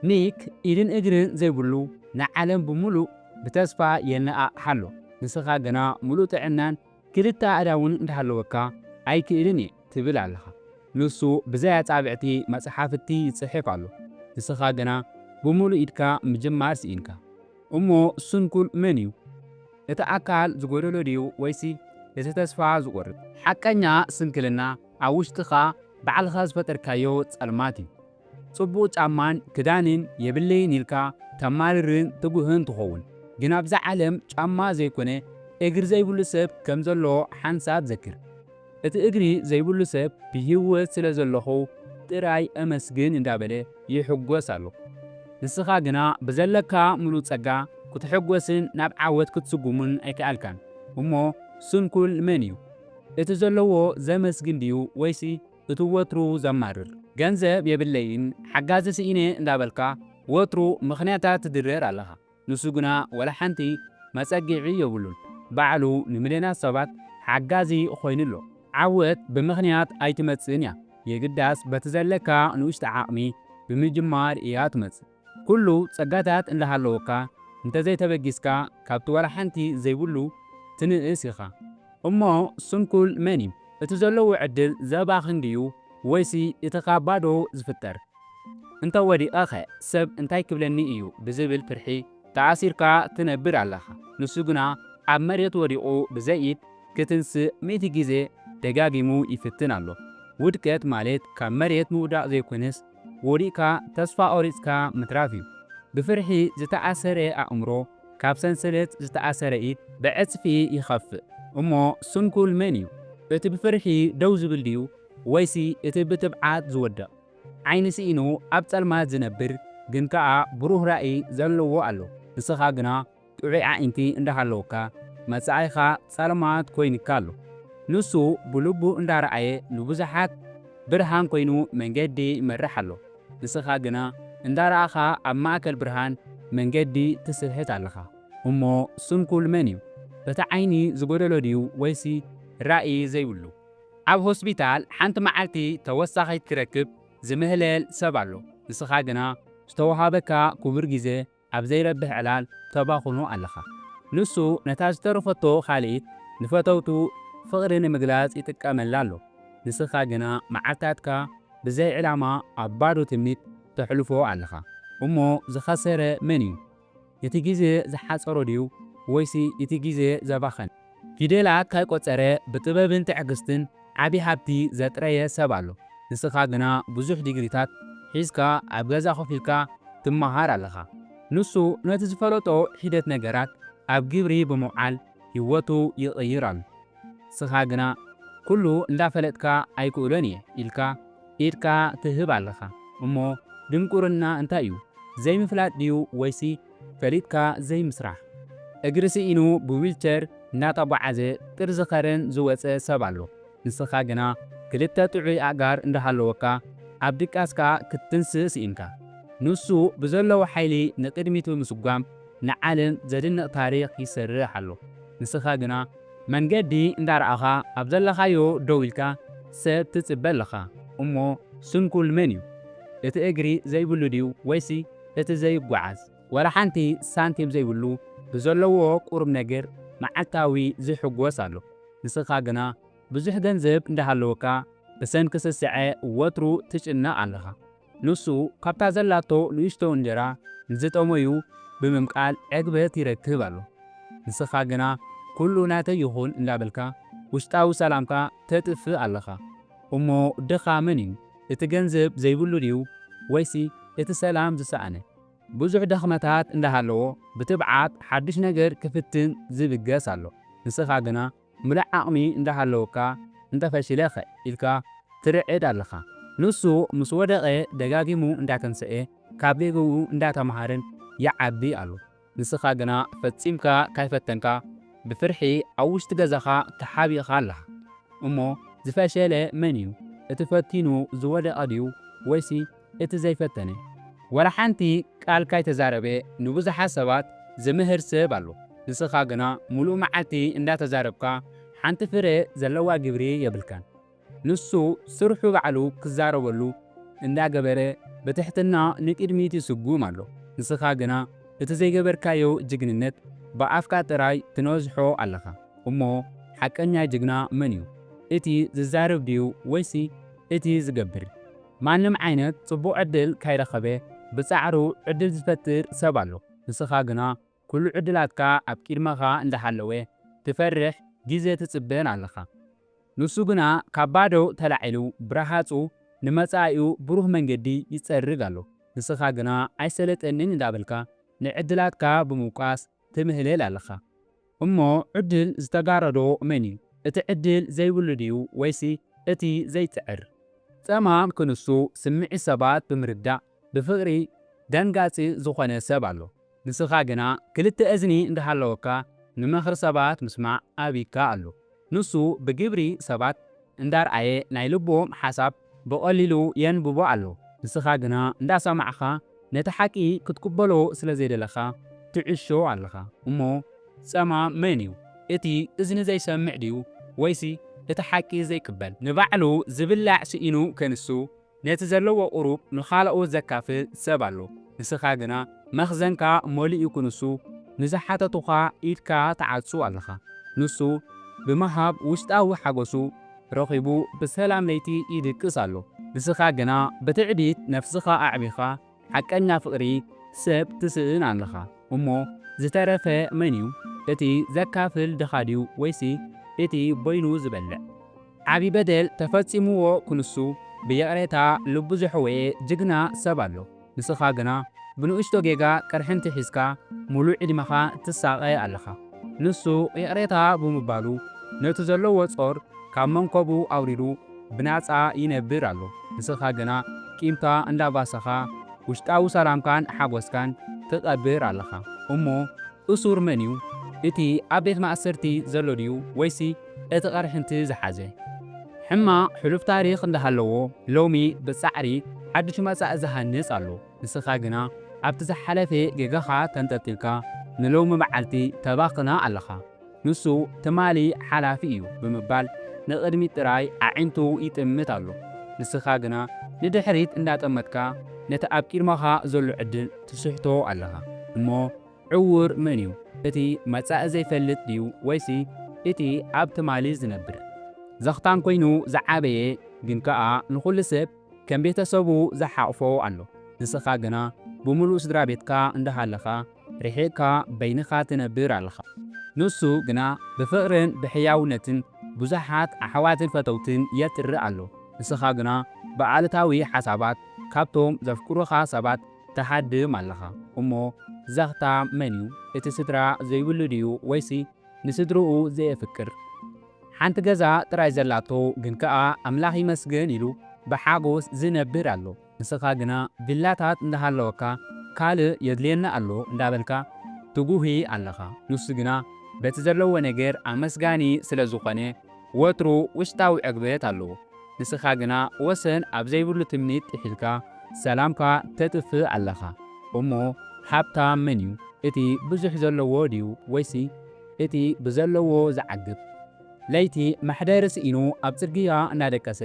ኒክ ኢድን እግርን ዘይብሉ ንዓለም ብምሉእ ብተስፋ የነኣእሓ ኣሎ። ንስኻ ግና ምሉእ ጥዕናን ክልተ ኣእዳውን እንተሃለወካ ኣይክእልን እየ ትብል ኣለኻ። ንሱ ብዘይ ኣጻብዕቲ መጽሓፍቲ ይጽሕፍ ኣሎ። ንስኻ ግና ብምሉእ ኢድካ ምጅማር ስኢንካ። እሞ ስንኩል መን እዩ? እቲ ኣካል ዝጎደሎ ድዩ ወይሲ እቲ ተስፋ ዝቆርጽ? ሓቀኛ ስንክልና ኣብ ውሽጥኻ ባዕልኻ ዝፈጠርካዮ ጸልማት እዩ። ጽቡቕ ጫማን ክዳንን የብለይን ኢልካ ተማርርን ትጉህን ትኸውን ግን ኣብዛ ዓለም ጫማ ዘይኮነ እግሪ ዘይብሉ ሰብ ከም ዘሎ ሓንሳብ ዘክር። እቲ እግሪ ዘይብሉ ሰብ ብሂወት ስለ ዘለኹ ጥራይ ኣመስግን እንዳበለ ይሕጎስ ኣሎ። ንስኻ ግና ብዘለካ ምሉእ ጸጋ ክትሕጎስን ናብ ዓወት ክትስጉምን ኣይከኣልካን እሞ ስንኩል መን እዩ? እቲ ዘለዎ ዘመስግን ድዩ ወይሲ እቲ ወትሩ ዘማርር ገንዘብ የብለይን ሓጋዚ ስኢነ እንዳበልካ ወትሩ ምኽንያታት ትድርደር ኣለኻ ንሱ ግና ወላሓንቲ መጸግዒ የብሉን ባዕሉ ንምልዮናት ሰባት ሓጋዚ ኮይኑ ኣሎ። ዓወት ብምኽንያት ኣይትመጽእን እያ የግዳስ በቲ ዘለካ ንኡሽተ ዓቕሚ ብምጅማር እያ ትመጽእ። ኩሉ ጸጋታት እንዳሃለወካ እንተዘይተበጊስካ ካብቲ ዋላ ሓንቲ ዘይብሉ ትንእስ ኢኻ። እሞ ስንኩል መን እዩ? እቲ ዘለዎ ዕድል ዘባኽን ድዩ ወይሲ እቲ ካብ ባዶ ዝፍጠር? እንተ ወዲቐኸ ሰብ እንታይ ክብለኒ እዩ ብዝብል ፍርሒ ተኣሲርካ ትነብር ኣለኻ። ንሱ ግና ኣብ መሬት ወዲቑ ብዘይ ኢድ ክትንስእ ሚእቲ ግዜ ደጋጊሙ ይፍትን ኣሎ። ውድቀት ማለት ካብ መሬት ምውዳቕ ዘይኮነስ ወዲቕካ ተስፋ ቆሪጽካ ምትራፍ እዩ። ብፍርሒ ዝተኣሰረ ኣእምሮ ካብ ሰንሰለት ዝተኣሰረ ኢድ ብዕጽፊ ይኸፍእ። እሞ ስንኩል መን እዩ? እቲ ብፍርሒ ደው ዝብል ድዩ ወይሲ እቲ ብትብዓት ዝወድቕ? ዓይኒ ስኢኑ ኣብ ጸልማት ዝነብር ግን ከኣ ብሩህ ራኢ ዘለዎ ኣሎ። ንስኻ ግና? ጥዑይ ኣዒንቲ እንዳ ሃለወካ መጻኢኻ ጸልማት ኮይንካ ኣሎ። ንሱ ብልቡ እንዳ ረኣየ ንብዙሓት ብርሃን ኮይኑ መንገዲ ይመርሕ ኣሎ። ንስኻ ግና እንዳ ረኣኻ ኣብ ማእከል ብርሃን መንገዲ ትስሕት ኣለኻ። እሞ ስንኩል መን እዩ? እቲ ዓይኒ ዝጎደሎ ድዩ ወይሲ ራኢ ዘይብሉ? ኣብ ሆስፒታል ሓንቲ መዓልቲ ተወሳኺት ክረክብ ዝምህለል ሰብ ኣሎ። ንስኻ ግና ዝተወሃበካ ክቡር ግዜ ኣብ ዘይረብሕ ዕላል ተባኹኑ ኣለኻ። ንሱ ነታ ዝተረፈቶ ካልኢት ንፈተውቱ ፍቕሪ ንምግላጽ ይጥቀመላ ኣሎ። ንስኻ ግና መዓልታትካ ብዘይ ዕላማ ኣብ ባዶ ትምኒት ተሕልፎ ኣለኻ። እሞ ዝኸሰረ መን'ዩ? እቲ ግዜ ዝሓጸሮ ድዩ ወይሲ እቲ ግዜ ዘባኸነ? ፊደላት ካይቆጸረ ብጥበብን ትዕግስትን ዓቢ ሃብቲ ዘጥረየ ሰብ ኣሎ ንስካ ግና ብዙሕ ዲግሪታት ሒዝካ ኣብ ገዛ ኮፍ ኢልካ ትማሃር ኣለካ ንሱ ነቲ ዝፈለጦ ሒደት ነገራት ኣብ ግብሪ ብምውዓል ሂወቱ ይቅይር ኣሎ ንስካ ግና ኩሉ እንዳፈለጥካ ኣይክእሎን እየ ኢልካ ኢድካ ትህብ ኣለካ እሞ ድንቁርና እንታይ እዩ ዘይምፍላጥ ድዩ ወይሲ ፈሊጥካ ዘይምስራሕ። እግሪ ስኢኑ ብዊልቸር እንዳተጓዓዘ ጥርዚ ከረን ዝወጸ ሰብ ኣሎ ንስኻ ግና ክልተ ጥዑይ ኣእጋር እንዳሃለወካ ኣብ ድቃስካ ክትትንስእ ስኢንካ። ንሱ ብዘለዎ ሓይሊ ንቅድሚት ብምስጓም ንዓለም ዘድንቅ ታሪኽ ይሰርሕ ኣሎ ንስኻ ግና። መንገዲ እንዳረኣኻ ኣብ ዘለኻዮ ደው ኢልካ ሰብ ትጽበ ኣለኻ። እሞ ስንኩል መን እዩ እቲ እግሪ ዘይብሉ ድዩ ወይሲ እቲ ዘይጓዓዝ ዋላ ሓንቲ ሳንቲም ዘይብሉ ብዘለዎ ቁርብነገር መዓልታዊ ዝሕጎስ ኣሎ ንስኻ ግና ብዙሕ ገንዘብ እንዳሃለወካ ብሰንኪ ስስዐ ወትሩ ትጭነቕ ኣለኻ ንሱ ካብታ ዘላቶ ንእሽቶ እንጀራ ንዝጠመዩ ብምምቃል ዕግበት ይረክብ ኣሎ ንስኻ ግና ኩሉ ናተይ ይኹን እንዳበልካ ውሽጣዊ ሰላምካ ተጥፍእ ኣለኻ እሞ ድኻ መን እዩ እቲ ገንዘብ ዘይብሉ ድዩ ወይሲ እቲ ሰላም ዝሰኣነ? ብዙሕ ድኽመታት እንዳሃለዎ ብትብዓት ሓዱሽ ነገር ክፍትን ዝብገስ ኣሎ። ንስኻ ግና ምሉእ ዓቕሚ እንዳሃለወካ እንተፈሺለ'ኸ ኢልካ ትርዕድ ኣለኻ። ንሱ ምስ ወደቐ ደጋጊሙ እንዳተንሰኤ ካብ ጌግኡ እንዳተማሃረን ይዓቢ ኣሎ። ንስኻ ግና ፈጺምካ ካይፈተንካ ብፍርሒ ኣብ ውሽጢ ገዛኻ ተሓቢእኻ ኣለኻ እሞ ዝፈሸለ መን እዩ እቲ ፈቲኑ ዝወደቀ ድዩ ወይሲ እቲ ዘይፈተነ ወላ ሓንቲ ቃል ካይተዛረበ ንብዙሓት ሰባት ዝምህር ሰብ ኣሎ ንስኻ ግና ሙሉእ መዓልቲ እንዳተዛረብካ ሓንቲ ፍረ ዘለዋ ግብሪ የብልካን። ንሱ ስርሑ ባዕሉ ክዛረበሉ እንዳ ገበረ ብትሕትና ንቅድሚት ይስጉም ኣሎ ንስኻ ግና እቲ ዘይገበርካዮ ጅግንነት ብኣፍካ ጥራይ ትነዝሖ ኣለኻ እሞ ሓቀኛ ጅግና መን እዩ እቲ ዝዛረብ ድዩ ወይሲ እቲ ዝገብር? ማንም ዓይነት ጽቡቕ ዕድል ካይረኸበ ብጻዕሩ ዕድል ዝፈጥር ሰብ ኣሎ ንስኻ ግና ኩሉ ዕድላትካ ኣብ ቂድመኻ እንዳሃለወ ትፈርሕ ግዜ ትጽበን ኣለኻ ንሱ ግና ካብ ባዶ ተላዒሉ ብራሃጹ ንመጻኢኡ ብሩህ መንገዲ ይጸርግ ኣሎ ንስኻ ግና ኣይሰለጠንን እንዳበልካ ንዕድላትካ ብምውቃስ ትምህለል ኣለኻ እሞ ዕድል ዝተጋረዶ መን እዩ እቲ ዕድል ዘይብሉ ድዩ ወይሲ እቲ ዘይጽዕር ጸማም ክንሱ ስምዒት ሰባት ብምርዳእ ብፍቅሪ ደንጋጺ ዝኾነ ሰብ ኣሎ ንስኻ ግና ክልተ እዝኒ እንዳሃለወካ ንመኽሪ ሰባት ምስማዕ ኣቢካ ኣሎ ንሱ ብግብሪ ሰባት እንዳርኣየ ናይ ልቦም ሓሳብ ብቀሊሉ የንብቦ ኣሎ ንስኻ ግና እንዳሰማዕኻ ነቲ ሓቂ ክትቅበሎ ስለ ዘይደለኻ ትዕሾ ኣለኻ እሞ ጸማም መን እዩ እቲ እዝኒ ዘይሰምዕ ድዩ ወይሲ እቲ ሓቂ ዘይቅበል ንባዕሉ ዝብላዕ ስኢኑ ከንሱ ነቲ ዘለዎ ቁሩብ ንኻላኦት ዘካፍል ሰብ ኣሎ ንስኻ ግና መኽዘንካ መሊኡ ክንሱ ንዝሓተቱኻ ኢድካ ትዓጹ ኣለኻ ንሱ ብምሃብ ውሽጣዊ ሓጎሱ ረኺቡ ብሰላም ለይቲ ይድቅስ ኣሎ ንስኻ ግና ብትዕቢት ነፍስኻ ኣዕቢኻ ሓቀኛ ፍቅሪ ሰብ ትስእን ኣለኻ እሞ ዝተረፈ መን እዩ እቲ ዘካፍል ድኻ ድዩ ወይሲ እቲ በይኑ ዝበልዕ። ዓቢ በደል ተፈጺምዎ ክንሱ ብይቕሬታ ልቡ ዘሕወየ ጅግና ሰብ ኣሎ ንስኻ ግና ብንእሽቶ ጌጋ ቅርሕንቲ ሒዝካ ሙሉእ ዕድመኻ ትሳቐ ኣለኻ ንሱ ይቕሬታ ብምባሉ ነቲ ዘለዎ ጾር ካብ መንኮቡ ኣውሪዱ ብናጻ ይነብር ኣሎ ንስኻ ግና ቂምካ እንዳባሰኻ ውሽጣዊ ሰላምካን ሓጎስካን ትቀብር ኣለኻ እሞ እሱር መን እዩ እቲ ኣብ ቤት ማእሰርቲ ዘሎ ድዩ ወይሲ እቲ ቅርሕንቲ ዝሓዘ ሕማቅ ሕሉፍ ታሪኽ እንዳሃለዎ ሎሚ ብጻዕሪ ሓዱሽ መጻኢ ዝሃንጽ ኣሎ ንስኻ ግና ኣብቲ ዝሓለፈ ጌጋኻ ተንጠልጢልካ ንሎሚ መዓልቲ ተባኽና ኣለኻ። ንሱ ትማሊ ሓላፊ እዩ ብምባል ንቕድሚት ጥራይ ኣዒንቱ ይጥምት ኣሎ። ንስኻ ግና ንድሕሪት እንዳጠመትካ ነቲ ኣብ ቂድመኻ ዘሎ ዕድል ትስሕቶ ኣለኻ። እሞ ዕዉር መን እዩ እቲ መጻኢ ዘይፈልጥ ድዩ ወይሲ እቲ ኣብ ትማሊ ዝነብር? ዘኽታም ኮይኑ ዝዓበየ ግን ከኣ ንኹሉ ሰብ ከም ቤተሰቡ ዝሓቑፎ ኣሎ። ንስኻ ግና ብምሉእ ስድራቤትካ እንዳሃለኻ ርሒቕካ በይንኻ ትነብር ኣለኻ። ንሱ ግና ብፍቕርን ብሕያውነትን ብዙሓት ኣሕዋትን ፈተውትን የጥሪ ኣሎ። ንስኻ ግና ብኣሉታዊ ሓሳባት ካብቶም ዘፍቅሩኻ ሰባት ትሃድም ኣለኻ። እሞ ዘኽታ መን እዩ? እቲ ስድራ ዘይብሉ ድዩ ወይሲ ንስድርኡ ዘየፍቅር? ሓንቲ ገዛ ጥራይ ዘላቶ ግን ከኣ ኣምላኽ ይመስገን ኢሉ ብሓጎስ ዝነብር ኣሎ። ንስኻ ግና ቪላታት እንዳሃለወካ ካልእ የድልየኒ ኣሎ እንዳበልካ ትጉሂ ኣለኻ። ንሱ ግና በቲ ዘለዎ ነገር ኣመስጋኒ ስለዝኾነ ወትሩ ውሽጣዊ ዕግበት ኣለዎ። ንስኻ ግና ወሰን ኣብ ዘይብሉ ትምኒት ጥሒልካ ሰላምካ ተጥፍእ ኣለኻ። እሞ ሃብታም መንዩ እቲ ብዙሕ ዘለዎ ድዩ ወይሲ እቲ ብዘለዎ ዝዓግብ? ለይቲ መሕደሪ ስኢኑ ኣብ ጽርግያ እናደቀሰ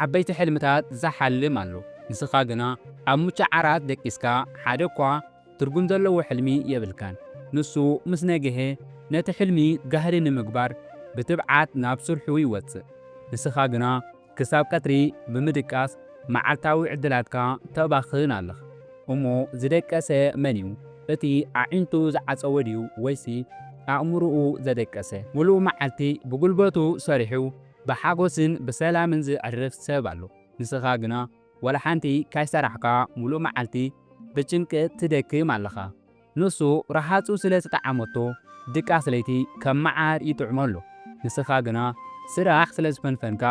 ዓበይቲ ሕልምታት ዝሓልም ኣሎ። ንስኻ ግና ኣብ ምቹእ ዓራት ደቂስካ ሓደ እኳ ትርጉም ዘለዎ ሕልሚ የብልካን። ንሱ ምስ ነግሔ ነቲ ሕልሚ ጋህዲ ንምግባር ብትብዓት ናብ ስርሑ ይወጽእ። ንስኻ ግና ክሳብ ቀትሪ ብምድቃስ መዓልታዊ ዕድላትካ ተባኽን ኣለኻ። እሞ ዝደቀሰ መን'ዩ? እቲ ኣዒንቱ ዝዓጸወ ድዩ ወይሲ ኣእምሮኡ ዘደቀሰ? ምሉእ መዓልቲ ብጉልበቱ ሰሪሑ ብሓጎስን ብሰላምን ዘዕርፍ ሰብ ኣሎ። ንስኻ ግና ዋላ ሓንቲ ካይሰራሕካ ምሉእ መዓልቲ ብጭንቂ ትደክም ኣለኻ። ንሱ ረሃጹ ስለ ዝጠዓመቶ ድቃስ ለይቲ ከም መዓር ይጥዕሞ ኣሎ። ንስኻ ግና ስራሕ ስለ ዝፈንፈንካ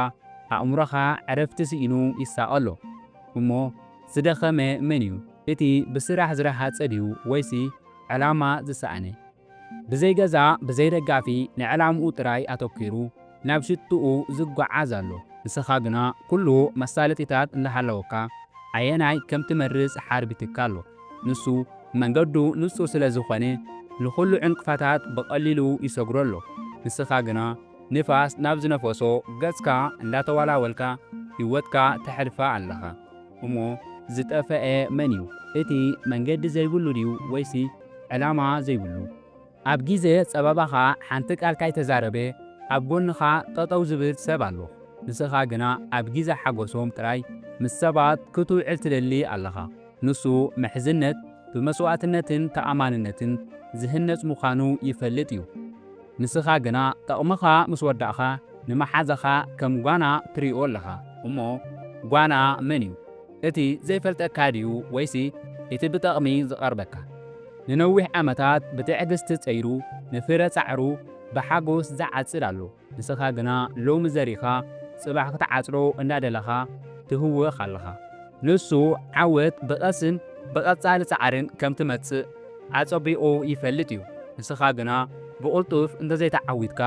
ኣእምሮኻ ዕረፍቲ ስኢኑ ይሳቐ ኣሎ። እሞ ዝደኸመ መን'ዩ? እቲ ብስራሕ ዝረሃጸ ድዩ ወይሲ ዕላማ ዝሰኣነ? ብዘይ ገዛ ብዘይ ደጋፊ ንዕላምኡ ጥራይ ኣተኲሩ፣ ናብ ሽትኡ ዝጓዓዝ ኣሎ ንስኻ ግና ኩሉ መሳለጢታት እንዳሃለወካ ኣየናይ ከም ትመርጽ ሓርቢትካ ኣሎ ንሱ መንገዱ ንጹር ስለ ዝኾነ ንኹሉ ዕንቅፋታት ብቐሊሉ ይሰግሮ ኣሎ ንስኻ ግና ንፋስ ናብ ዝነፈሶ ገጽካ እንዳተዋላወልካ ሂወትካ ተሕልፋ ኣለኻ እሞ ዝጠፈኤ መን እዩ እቲ መንገዲ ዘይብሉ ድዩ ወይሲ ዕላማ ዘይብሉ ኣብ ግዜ ጸበባኻ ሓንቲ ቃል ካይተዛረበ ኣብ ጎንኻ ጠጠው ዝብል ሰብ ኣሎ ንስኻ ግና ኣብ ግዜ ሓጎሶም ጥራይ ምስ ሰባት ክትውዕል ትደሊ ኣለኻ ንሱ ምሕዝነት ብመስዋእትነትን ተኣማንነትን ዝህነጽ ምዃኑ ይፈልጥ እዩ ንስኻ ግና ጠቕምኻ ምስ ወዳእኻ ንመሓዛኻ ከም ጓና ትሪኦ ኣለኻ እሞ ጓና መን እዩ እቲ ዘይፈልጠካ ድዩ ወይሲ እቲ ብጠቕሚ ዝቐርበካ? ንነዊሕ ዓመታት ብትዕግስቲ ጸይሩ ንፍረ ጻዕሩ ብሓጎስ ዝዓጽድ ኣሎ፣ ንስኻ ግና ሎሚ ዘሪኻ ጽባሕ ክትዓጽዶ እንዳደለኻ ትህወኽ ኣለኻ። ንሱ ዓወት ብቐስን ብቐጻሊ ጻዕርን ከም ትመጽእ ኣጸቢቑ ይፈልጥ እዩ፣ ንስኻ ግና ብቕልጡፍ እንተዘይተዓዊትካ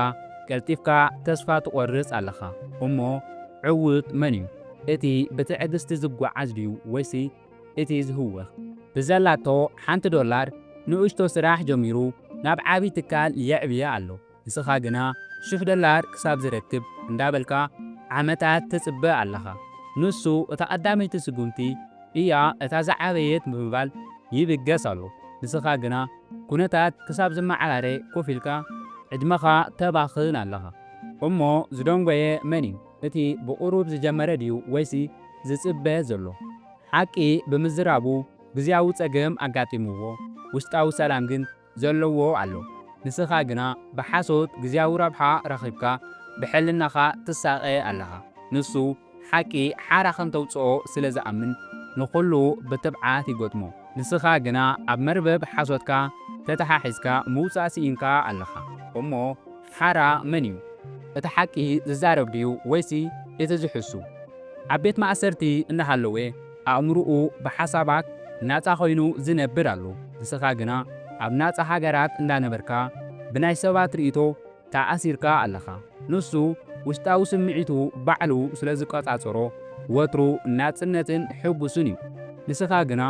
ቀልጢፍካ ተስፋ ትቖርጽ ኣለኻ። እሞ ዕዉት መን እዩ? እቲ ብትዕግስቲ ዝጓዓዝ ድዩ ወይሲ እቲ ዝህውኽ? ብዘላቶ ሓንቲ ዶላር ንእሽቶ ስራሕ ጀሚሩ ናብ ዓቢ ትካል የዕብያ ኣሎ። ንስኻ ግና ሽሕ ዶላር ክሳብ ዝረክብ እንዳበልካ ዓመታት ትጽበ ኣለኻ። ንሱ እታ ቀዳመይቲ ስጉምቲ እያ እታ ዝዓበየት ብምባል ይብገስ ኣሎ። ንስኻ ግና ኩነታት ክሳብ ዝመዓራረ ኮፍ ኢልካ ዕድመኻ ተባኽን ኣለኻ። እሞ ዝደንጎየ መን እዩ? እቲ ብቑሩብ ዝጀመረ ድዩ ወይሲ ዝጽበ ዘሎ? ሓቂ ብምዝራቡ ግዝያዊ ጸገም ኣጋጢምዎ ውሽጣዊ ሰላም ግን ዘለዎ ኣሎ። ንስኻ ግና ብሓሶት ግዝያዊ ረብሓ ረኺብካ ብሕልናኻ ትሳቐ ኣለኻ። ንሱ ሓቂ ሓራ ከም ተውጽኦ ስለ ዝኣምን ንኹሉ ብትብዓት ይገጥሞ። ንስኻ ግና ኣብ መርበብ ሓሶትካ ተተሓሒዝካ ምውጻእ ስኢንካ ኣለኻ። እሞ ሓራ መን እዩ እቲ ሓቂ ዝዛረብ ድዩ ወይሲ እቲ ዝሕሱ? ኣብ ቤት ማእሰርቲ እናሃለወ ኣእምርኡ ብሓሳባት ናጻ ኮይኑ ዝነብር ኣሎ ንስኻ ግና ኣብ ናጻ ሃገራት እንዳነበርካ ብናይ ሰባት ርኢቶ ተኣሲርካ ኣለኻ ንሱ ውሽጣዊ ስምዒቱ ባዕሉ ስለ ዝቆጻጸሮ ወትሩ ናጽነትን ሕጉስን እዩ ንስኻ ግና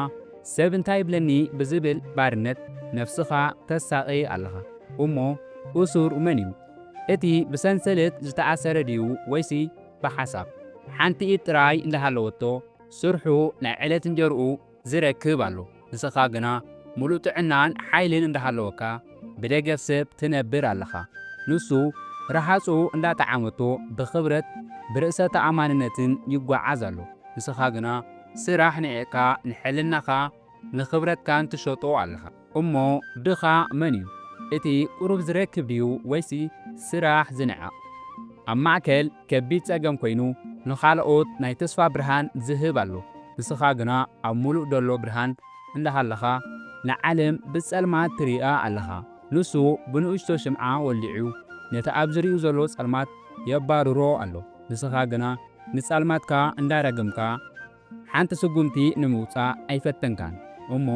ሰብ እንታይ ይብለኒ ብዝብል ባርነት ነፍስኻ ተሳቂ ኣለኻ። እሞ እሱር መን እዩ? እቲ ብሰንሰለት ዝተኣሰረ ድዩ ወይሲ ብሓሳብ? ሓንቲ ኢድ ጥራይ እንዳሃለወቶ ስርሑ ናይ ዕለት እንጀርኡ ዝረክብ ኣሎ ንስኻ ግና ሙሉእ ጥዕናን ሓይልን እንዳሃለወካ ብደገፍ ሰብ ትነብር ኣለኻ ንሱ ረሃፁ እንዳጠዓመቶ ብኽብረት ብርእሰ ተኣማንነትን ይጓዓዝ ኣሎ ንስኻ ግና ስራሕ ኒዒቅካ ንሕልናኻ ንኽብረትካን ትሸጦ ኣለኻ እሞ ድኻ መን እዩ እቲ ቁሩብ ዝረክብ ድዩ ወይሲ ስራሕ ዝንዕቕ ኣብ ማእከል ከቢድ ጸገም ኮይኑ ንኻልኦት ናይ ተስፋ ብርሃን ዝህብ ኣሎ ንስኻ ግና ኣብ ሙሉእ ደሎ ብርሃን እንዳሃለኻ ንዓለም ብጸልማት ትሪኣ ኣለኻ ንሱ ብንእሽቶ ሽምዓ ወሊዑ ነቲ ኣብ ዝሪኡ ዘሎ ጸልማት የባርሮ ኣሎ ንስኻ ግና ንጸልማትካ እንዳረገምካ ሓንቲ ስጉምቲ ንምውጻእ ኣይፈተንካን እሞ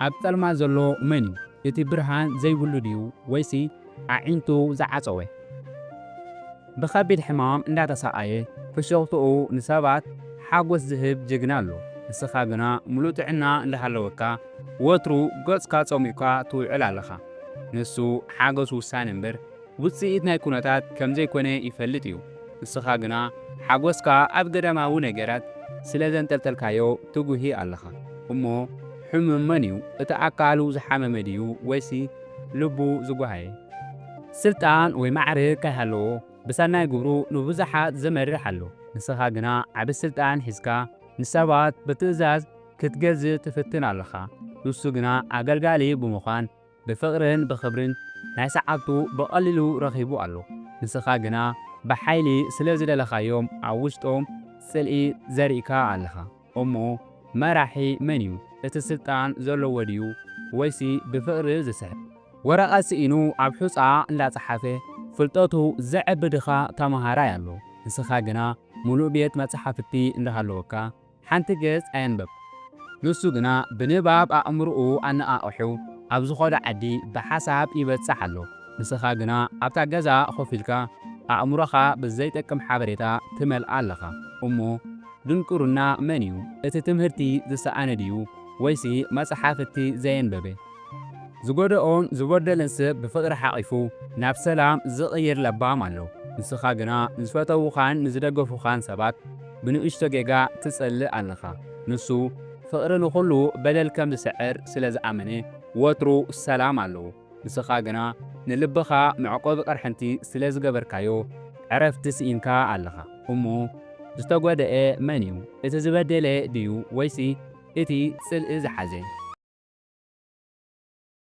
ኣብ ጸልማት ዘሎ መን እዩ እቲ ብርሃን ዘይብሉ ድዩ ወይሲ ኣዒንቱ ዝዓጸወ ብከቢድ ሕማም እንዳተሳቀየ ፍሽኽትኡ ንሰባት ሓጎስ ዝህብ ጅግና ኣሎ ንስኻ ግና ሙሉእ ጥዕና እንዳሃለወካ ወትሩ ገጽካ ጸሚቕካ ትውዕል ኣለኻ ንሱ ሓገሱ ውሳነ እምበር ውጽኢት ናይ ኩነታት ከም ዘይኮነ ይፈልጥ እዩ። ንስኻ ግና ሓጎስካ ኣብ ገዳማዊ ነገራት ስለ ዘንጠልጠልካዮ ትጉሂ ኣለኻ። እሞ ሕሙም መን እዩ? እቲ ኣካሉ ዝሓመመ ድዩ ወይሲ ልቡ ዝጓሃየ? ስልጣን ወይ ማዕርግ ከይሃለዎ ብሰናይ ግብሩ ንብዙሓት ዝመርሕ ኣሎ። ንስኻ ግና ዓቢ ስልጣን ሒዝካ ንሰባት ብትእዛዝ ክትገዝእ ትፍትን ኣለኻ። ንሱ ግና ኣገልጋሊ ብምዃን ብፍቕርን ብኽብርን ናይ ሰዓብቱ ብቐሊሉ ረኺቡ ኣሎ። ንስኻ ግና ብሓይሊ ስለ ዝደለኻዮም ኣብ ውሽጦም ጽልኢ ዘሪእካ ኣለኻ። እሞ መራሒ መን'ዩ? እቲ ስልጣን ዘለዎ ድዩ ወይሲ ብፍቕሪ ዝስሕብ? ወረቐት ስኢኑ ኣብ ሑጻ እንዳ ጸሓፈ ፍልጠቱ ዘዕቢ ድኻ ተመሃራይ ኣሎ። ንስኻ ግና ምሉእ ቤት መጻሕፍቲ እንዳሃለወካ ሓንቲ ገጽ ኣየንበብኩን። ንሱ ግና ብንባብ ኣእምሮኡ ኣነቓቒሑ ኣብ ዝኸዶ ዓዲ ብሓሳብ ይበጽሕ ኣሎ። ንስኻ ግና ኣብታ ገዛ ኮፍ ኢልካ ኣእምሮኻ ብዘይጠቅም ሓበሬታ ትመልኣ ኣለኻ። እሞ ድንቁርና መን'ዩ? እቲ ትምህርቲ ዝሰኣነ ድዩ ወይሲ መጽሓፍቲ ዘየንበበ? ዝጎደኦን ዝበደለን ሰብ ብፍቕሪ ሓቒፉ ናብ ሰላም ዝቕይር ለባም ኣሎ። ንስኻ ግና ንዝፈተዉኻን ንዝደገፉኻን ሰባት ብንእሽቶ ጌጋ ትጸልእ ኣለኻ። ንሱ ፍቕሪ ንኹሉ በደል ከም ዝስዕር ስለ ዝኣመነ ወትሩ ሰላም ኣለዎ። ንስኻ ግና ንልብኻ መዕቆቢ ቅርሕንቲ ስለ ዝገበርካዮ ዕረፍቲ ስኢንካ ኣለኻ። እሞ ዝተጎደኤ መን እዩ እቲ ዝበደለ ድዩ ወይሲ እቲ ጽልኢ ዝሓዘ?